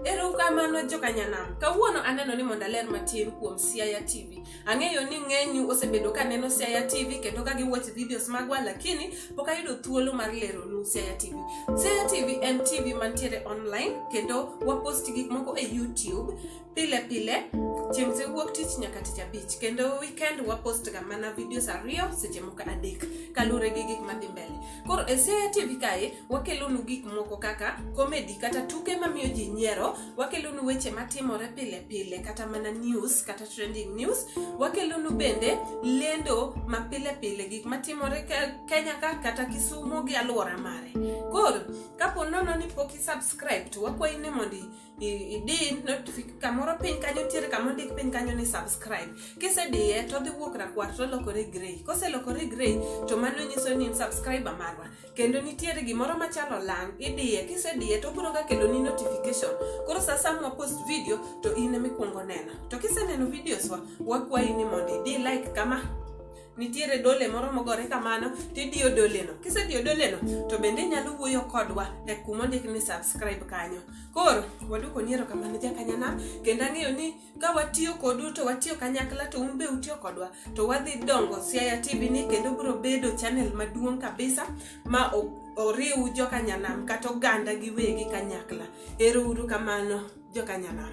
Erokamano joka Nyanam. Kawuono aneno ni mondo aler matin kuom Siaya TV. Ang'eyo ni ng'enyu osebedo ka neno Siaya TV kendo ka giwatch videos magwa lakini pok ayudo thuolo mar lero nu Siaya TV. Siaya TV en TV mantiere online kendo wapost gik moko e YouTube pile pile chieng' se wuok tich nyaka tich abich kendo weekend wapost ga mana videos ariyo seche moko adek kaluwore gi gik madhi mbele. Koro e Seya TV kae wakelonu gik moko kaka komedi kata tuke mamiyo ji nyiero, wakelonu weche matimore pile pile kata mana news kata trending news, wakelonu bende lendo ma pile pile gik matimore Kenya ka kata Kisumo gi alwora mare. Koro kapo nono ni pok i subscribe to wakwayi ni mondo idin notification kamoro piny kanyo ntiere kama ondik piny kanyo ni subscribe kisediye to odhi wuok rakwar to olokore grey koselokore grey to mano nyiso ni in subscriber marwa kendo nitiere gimoro machalo lang idiye kisediye to obiro ga kelo ni notification koro sa sa mwa post video to in emikwongo neno to kiseneno videos wa wakwayi ni mondo idi like kama nitiere dole moro mogore kamano tidiyo doleno kisediyo doleno to bende inyalo wuoyo kodwa e kuma ondik ni subscribe kanyo koro waduko niero kamano jakanyana kendo ang'eyo ni ka watiyo kodu to watiyo kanyakla to un be utiyo kodwa to wadhi dongo siaya tv ni kendo biro bedo chanel maduong' kabisa ma oriw jokanyanam kata oganda giwegi kanyakla ero uru kamano jokanyanam